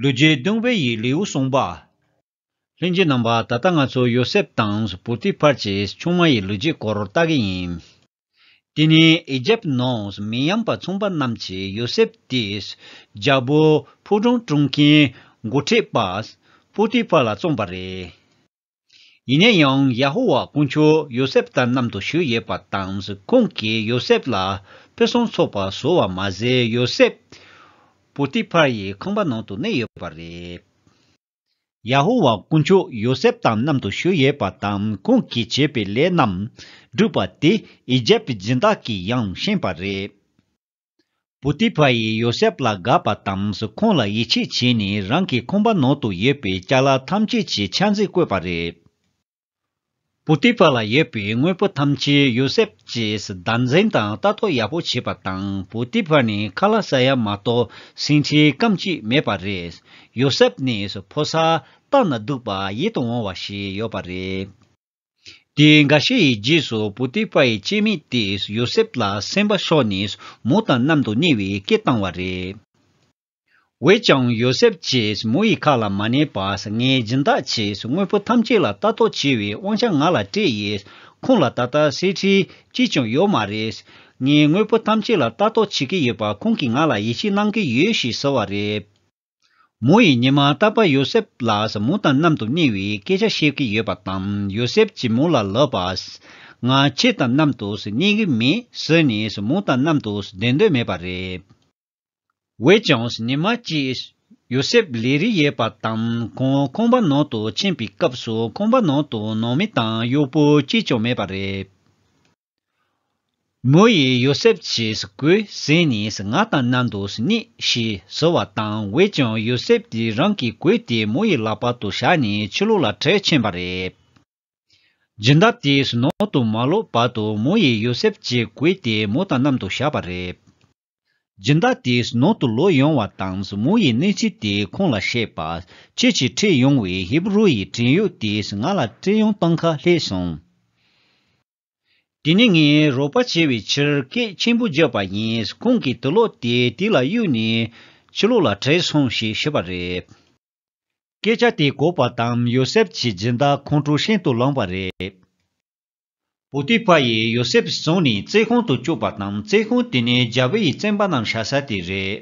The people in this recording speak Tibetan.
ལུས་རྒྱས་གདུང་བས་ཡིད་ལེའུ་གསུངས་པ། ལྷན་རྒྱས་རྣམ་པ་ད་ལྟ་ང་ཚོ་ཡོ་སེབ་དང་པུ་ཏི་ཕར་གྱི་ཆུང་མ་ཡི་ལུས་རྒྱས་སྐོར་བལྟ་གི་ཡིན། དེ་ནས་ཨི་ཇེབ་ནང་མི་ཡམས་པ་མཚུངས་པ་རྣམས་ཀྱིས་ཡོ་སེབ་དེས་རྒྱལ་པོ་ཕུག་རོན་བཀྲུངས་མཁན་མགོ་ཁྲིད་པ་པུ་ཏི་ཕར་ལ་བཙོངས་པ་རེད། ཡིན་ན་ཡང་ཡ་ཧོ་ཝཱ་དཀོན་མཆོག་ཡོ་སེབ་དང་མཉམ་དུ་ཞུགས་ཡོད་པ་དང་ཁོང་གིས་ཡོ་སེབ་ལ་ཕུན་སུམ་ཚོགས་པ་བཟོ་བ་མ་ཟད་ཡོ་སེབ་པོ་ཏི་ཕར་ཡི་ཁང་པ་ནང་དུ་གནས་ཡོད་པ་རེད། ཡ་ཧོ་ཝཱ་དཀོན་མཆོག་ཡོ་སེབ་དང་མཉམ་དུ་ཞུགས་ཡོད་པ་དང་ཁོང་གིས་བྱས་པའི་ལས་རྣམས་བསྒྲུབས་པ་དེ་ཨི་ཇེབ་ཀྱི་སྦྱིན་བདག་གིས་ཡང་ཤེས་པ་རེད། བུ་ཏི་ཕ་ཡིས་ཡོ་སེབ་ལ་དགའ་བ་དང་ཁོང་ལ་ཡིད་ཆེས་བྱས་ནས་རང་གི་ཁང་པ་ནང་དུ་ཡོད་པའི་བཅའ་ལག་ཐམས་ཅད་ཀྱི་ཆ་འཛིན་བསྐོས་པ་རེད། བུ་ཏི་ཕ་ལ་ཡོད་པའི་དངོས་པོ་ཐམས་ཅད་ཡོ་སེབ་ཀྱིས་བདག་འཛིན་དང་ལྟ་རྟོག་ཡག་པོ་བྱས་པ་དང་བུ་ཏི་ཕ་ནི་ཁ་ལ་ཟ་ཡ་མ་གཏོགས་ཟིན་བྲིས་སྐམ་ཅིག་མེད་པ་རེད། ཡོ་སེབ་ནི་ཕོ་སར་སྟག་ན་སྡུག་པ་ཡིད་དུ་འོང་བ་ཞིག་ཡོད་པ་རེད། དེའི་འགའ་ཤས་ཡི་རྗེས་སུ་པུ་ཏི་ཕཱ་ཡི་སྤྱན་མིག་དེས་ཡོ་སེབ་ལ་སེམས་པ་ཤོར་ནས་མོ་དང་མཉམ་དུ་གནས་བའི་སྐད་བཏང་བ་རེད། འོད་ཀྱང་ཡོ་སེབ་ཀྱིས་མོ་ཡི་ཁ་ལ་མ་གནས་པར་ངའི་སྦྱིན་བདག་ཅིག་དངོས་པོ་ཐམས་ཅད་ལ་ལྟ་རྟོག་བྱེད་བའི་དབང་ཆ་ང་ལ་སྤྲད་ཡོད། ཁོང་ལ་ད་ལྟ་གསེར་ཁྲི་གཅིག་ཀྱང་ཡོད་མ་རེད། ངས་དངོས་པོ་ཐམས་ཅད་ལ་ལྟ་རྟོག་བྱེད་ཀྱི་ཡོད་པ་ཁོང་གིས་ང་ལ་ཡིད་ཆེས་གནང་གི་ཡོད་ཞེས་ཟེར་བ་རེད། མོ་ཡིས་ཉི་མ་རྟག་པར་ཡོ་སེབ་ལ་ཟ་མོ་དང་མཉམ་དུ་གནས་བའི་སྐད་ཆ་བཤད་ཀྱི་ཡོད་པ་དང་ཡོ་སེབ་ཀྱིས་མོ་ལ་ལབ་པ། ང་ཁྱེད་དང་མཉམ་དུ་གནས་ཀྱི་མེད་ཟེར་ནས་མོ་དང་མཉམ་དུ་བསྡད་འདོད་མེད་པ་རེད། འོན་ཀྱང་ཉི་མ་གཅིག་ཡོ་སེབ་ལས་རིགས་ཡོད་པ་དང་ཁོང་ཁང་པ་ནང་དུ་ཕྱིན་པའི་སྐབས་སུ་ཁང་པ་ནང་དུ་ནང་མི་དང་གཡོག་པོ་གཅིག་ཀྱང་མེད་པ་རེད། མོ་ཡིས་ཡོ་སེབ་ཀྱིས་གོས་ཟན་ནི་ང་དང་ན་འདོད་སྙེག་ཞེས་ཟེར་བ་དང་འོད་ཀྱང་ཡོ་སེབ་ཀྱིས་རང་གི་གོས་དེ་མོ་ཡི་ལག་པ་དུ་བཞག་ནས་ཕྱི་ལོགས་ལ་འཕྲལ་ཕྱིན་པ་རེད། སྦྱིན་བདག་དེས་ནང་དུ་མ་ལོག་བར་དུ་མོ་ཡིས་ཡོ་སེབ་ཀྱི་གོས་དེ་མོ་དང་མཉམ་དུ་བཞག་པ་རེད། སྦྱིན་བདག་དེས་ནང་དུ་ལོག་ཡོང་བ་དང་མོ་ཡིས་གནས་ཚུལ་དེ་ཁོང་ལ་བཤད་པ། ཁྱེད་ཀྱིས་ཁྲིད་ཡོང་བའི་ཧེབ་རུ་ཡི་བྲན་གཡོག་དེས་ང་ལ་སྤྲེལ་ཡང་བཏང་ཁ་ལྷས་སོང། དེ་ནི་ངས་རོགས་པ་བྱས་པའི་ཕྱིར་སྐད་ཆེན་པོ་བརྗོད་པ་ཡིན་ཁོང་གིས་དུ་ལོག་སྟེ་དེ་ལ་གཡུག་ནས། ཕྱི་ལོགས་ལ་བྲེལ་སོང་ཞེས་ཞུས་པ་རེད། སྐད་ཆ་དེ་གོ་བ་དང་ཡོ་སེབ་ཀྱི་སྦྱིན་བདག་ཁོང་ཁྲོ་ཤིན་ཏུ་ལངས་པ་རེད། པོ་ཏི་ཕཱར་ཡིས་ཡོ་སེབ་བཟུང་ནས་རྩེད་ཁང་དུ་བཅུག་པ་དང་རྩེད་ཁང་དེ་ནི་རྒྱལ་པོ་ཡིས་བཙན་པ་རྣམས་བཞག་ས་དེ་རེད།